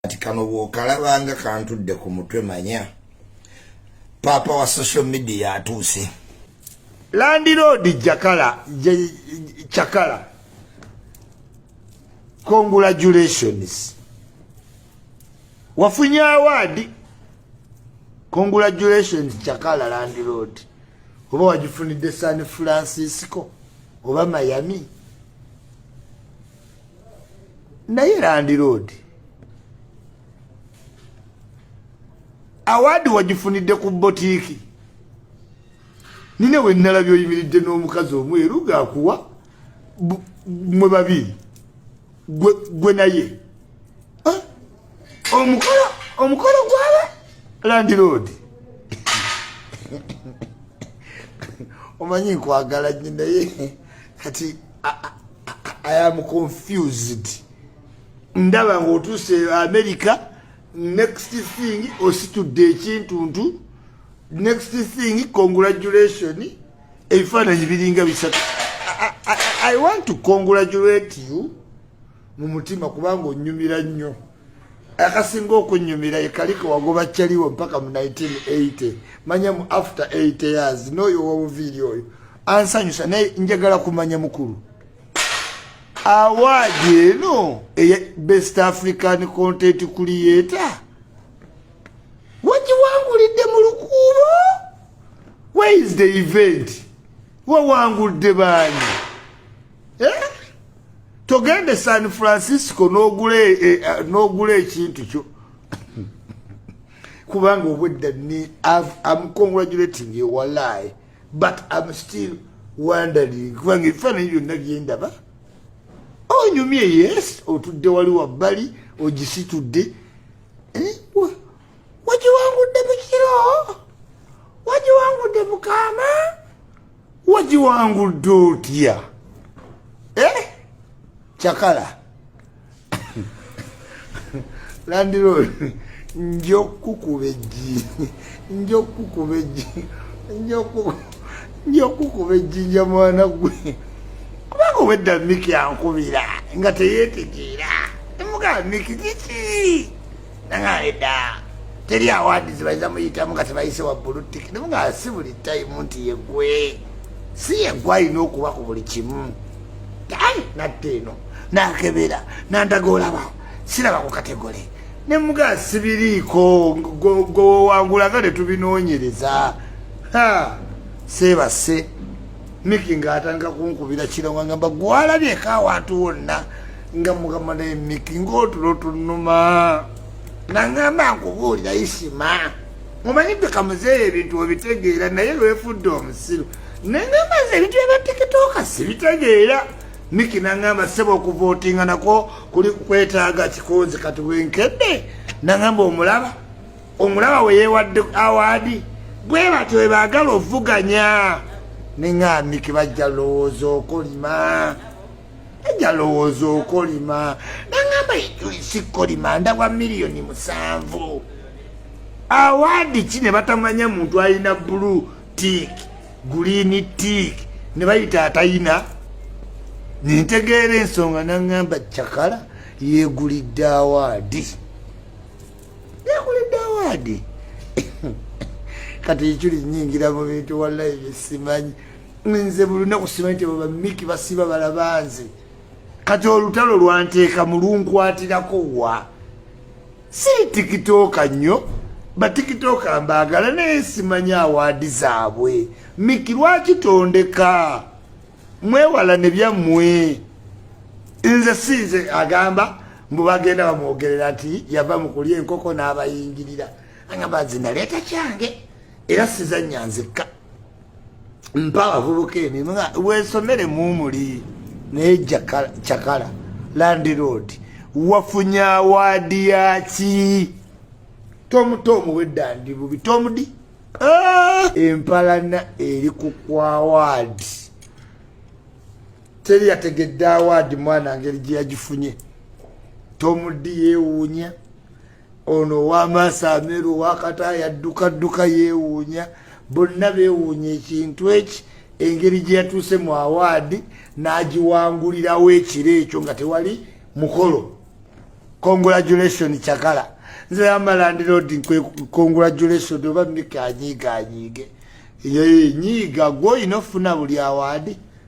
kati kano bwokalabanga kantudde ku mutwe manya paapa wa social media atuuse landiroodi jakala cakala congratulations wafunye awaadi congratulations cakala landiroodi oba wagifunidde san francisco oba miami naye landiroodi awaadi wagifunidde ku botiiki nina we nnalabye oyimiridde n'omukazi omweru gaakuwa mwe babiri gwe naye ah, omukolo omukolo gwaba landiroodi omanyi nkwagala nyo naye kati I am confused. Ndaba ng'otuuse America, next thing ositudde ekintuntu, next thing congratulation, ebifaananyi biringa bisatu. I, I, I want to congratulate you mu mutima kubanga onyumira nnyo. akasinga okunyumira yekalike wagoba kyaliwo mpaka mu 1980 manya mu after 8 years noyo wobuviiri oyo ansanyusa naye njagala kumanya mukulu awaadi eno eya best african content creator wagiwangulidde mu lukuubo where is the event wawangulidde baani eh? togenda e san francisco nogula e, e, nogula ekintu kyo kubanga obwedda ni am congratulating you walai but am still wondering kubanga ebifaananyi byonna byendaba onyumye yes otudde wali wabbali ogisitudde eh? wagiwangudde mukiro wagiwangudde mukama wagiwangudde otya eh? cakala landirod nja okukukuba ejji nja okukukuba ejji nja okukukuba ejjinja mwana gwe kubanga obwedda miki ankubira nga teyetegeera emugaa miki kiki nang'ale ddaa teri awandizi bayiza muyitamu nga tebayise waggulu tiki namu nga si buli tayimu nti yegwe si yegwe alina okuba ku buli kimu ai natte eno nakebera nandaga olaba siraba ku kategole ne mugaa sibiriiko gwewewangulanga ne tubinoonyereza ha seebase miki ng'atandika kunkubira kiro wangamba gwalabye eka awantu wonna nga mukama naye miki ngaotulo tunuma nangamba nkubuulira isima omanyi bika muzeeyi ebintu obitegeera naye lwefudde omusiru nangamba ze ebintu byabatikitoka sibitegeera miki nangamba seba okuvootinga nakwo kuli kwetaaga kikonzi kati bwenkedde nangamba omulaba omulaba weyewadde awaadi bwe batyo webaagala ovuganya nengambiki bajja lowooza okolima njalowooza okolima nangamba ijulisi kolima ndawa miliyoni musanvu awaadi ki ne batamanya muntu alina bulu tik guliini tik ne bayita atayina nentegeera ensonga nangamba cakala yegulidde awaadi yegulidde awaadi kati ijuli nyingira mu bintu wallahi bisimanyi nze bulunaku simanyi nti baba miki basiba balaba nze kati olutalo lwanteeka mulunkwatirako wa siri tikitooka nnyo batikitooka mbaagala naye simanyi awaadi zaabwe miki lwaki tondeka mwewala ne byammwe nze sinze agamba mbu bagenda bamwogerera nti yava mu kulya enkoko n'abayingirira agamba nze naleeta kyange era sizannya nzekka mpa abavubuka emirimu nga wesomere mumuli naye cakala landiroad wafunye awaadi yaki tomuto omuwedda ndi bubi tomudi ah! empalana eri ku kwawaadi teri yategedde awaadi mwana ngeri gye yagifunye tomudi yewuunya ono owamaaso ameru owakata yaddukadduka yeewuunya bonna beewuunya ekintu eki engeri gye yatuuse mu awaadi n'agiwangulirawo ekiro ekyo nga tewali mukolo congratulation cakala nze amalandira odi congratulation oba mika anyiiga anyiige eyo yenyiiga gwe olina okufuna buli awaadi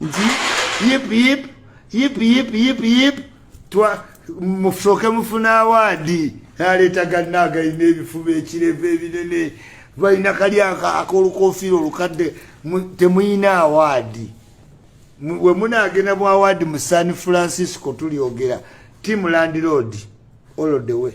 nti yip yip yip yip yip yip musoke mufuna awaadi aleeta ganna agalina ebifuba ekirevu ebinene balina kali akolukofiira olukadde temuyina awaadi we munaagenda mu awaadi mu san francisco tulyogera timu landiroodi olodewe